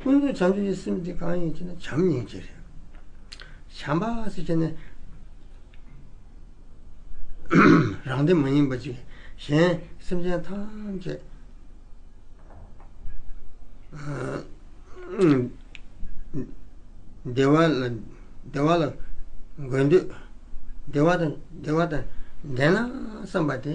ཀུན་དགའི་བྱང་ཆུབ་ཀྱི་སེམས་དེ་གང་ཡིན་ཅེ་ན་བྱམས་སྙིང་རྗེ་རེད། བྱམས་པ་སེ་བྱས་ནས། རང་དེ་མ་ཡིན་པ་ཅིག་གཞན་སེམས་ཅན་ཐམས་ཅད། བདེ་བ་ལ་བདེ་བ་ལ་འགོད་འདོད། བདེ་བ་དང་བདེ་བ་དང་ལྡན་ན་བསམ་པ་དེ།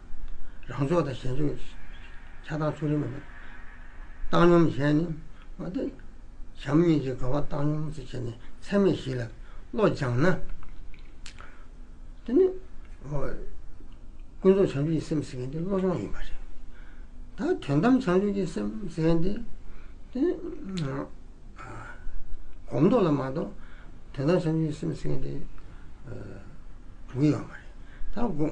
རང་ཕྱོགས་དང་གཞན་ཕྱོགས་ཀྱི་ཆགས་སྡང་ཕྱོགས་རིས་མེད་པར་བཏང་སྙོམས་བྱས་ནས། བྱམས་སྙིང་རྗེའི་དགའ་བ་བཏང་སྙོམས་སུ་བྱས་ནས་ཚད་མེད་བཞི་ལ་བློ་སྦྱངས་ན། དེ་ནི། ཀུན་རྫོབ་བྱང་ཆུབ་ཀྱི་སེམས་ཟེར་མཁན་དེ་བློ་སྦྱོང་ཡིན་པ་རེད། ད་དོན་དམ་བྱང་ཆུབ་ཀྱི་སེམས་ཟེར་མཁན་དེ། དེ་ནི། གོམས་འདོགས་ལ་མ་གཏོགས་དོན་དམ་བྱང་ཆུབ་ཀྱི་སེམས་ཟེར་མཁན་དེ། དགུ་ཡོད་པ་རེད། ད།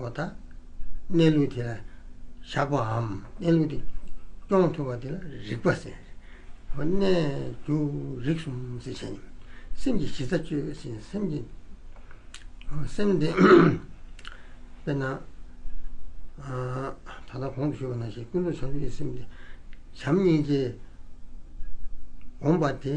བ་དང། གནས་ལུགས་དེ་ལ་བཞག་པའམ་གནས་ལུགས་དེ་སྐྱོང་ཐུབ་པ་དེ་ལ་རིག་པ་ཟེར། གནས་འགྱུར་རིག་གསུམ་ཟེར་བྱས་ནས་སེམས་ཀྱི་གཞི་རྩ་གཅོད་ཅིང་སེམས་ཀྱི་སེམས་དེ། དཔེར་ན། ད་ལྟ་གོང་དུ་ཞུས་པ་ནང་བཞིན་ཀུན་རྫོབ་བྱང་ཆུབ་ཀྱི་སེམས་དེ་བྱམས་སྙིང་རྗེ་སྒོམ་པ་དེ།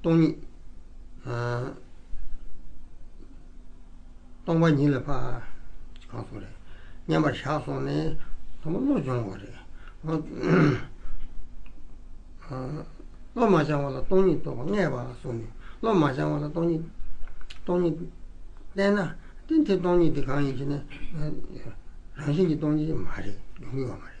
སྟོང་ཉིད། སྟོང་པ་ཉིད་ལ་བ། གང་སོང་རེད། མཉམ་པར་བཞག་སོང་ནས། དང་པོ་བློ་སྦྱོང་བ་རེད། བློ་མ་སྦྱང་བ་ལ་སྟོང་ཉིད་རྟོགས་པ་ལྔས་བ་སོང་ནས། བློ་མ་སྦྱང་བ་ལ་སྟོང་ཉིད། སྟོང་ཉིད། བསྟན་ན། དེ་སྟོང་ཉིད་དེ་གང་ཡིན་ཞེ་ན། རང་བཞིན་གྱི་སྟོང་ཉིད་མ་རེད། ཡོང་གི་ཡོད་མ་རེད།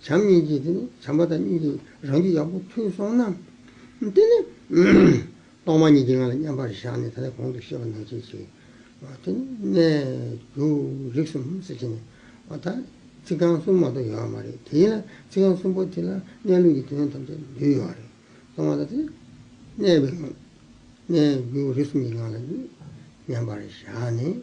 བྱམས་སྙིང་རྗེ་དེ་ནི་བྱམས་པ་དང་སྙིང་རྗེ་རང་རྒྱུད་ཡག་པོ་མཐུན་སོང་ན། དེ་ནི། གཏོར་མ་གཉིས་ཀྱི་ངང་ལ་མཉམ་པར་བཞག་ནས་ད་ལྟའི་གོང་དུ་བཤད་པ་ནན་བྱེད་ཅིག། དེ་ནི་གནས། རྒྱུ། རིགས་གསུམ་གསལ་བྱེད་ནི། བ་དག། ཚིག་རྐང་གསུམ་མ་གཏོགས་ཡོད་པ་མ་རེད་དེ། ཚིག་རྐང་གསུམ་པོ་དེ་ལ་གནས་ལུགས་ཀྱི་དོན་ཐམས་ཅད་འདུས་ཡོད་རེད། གཏོར་མ་དང་དེ། གནས། གནས། རྒྱུ། རིགས་གསུམ་གྱི་ངང་ལ། མཉམ་པར་བཞག་ནས།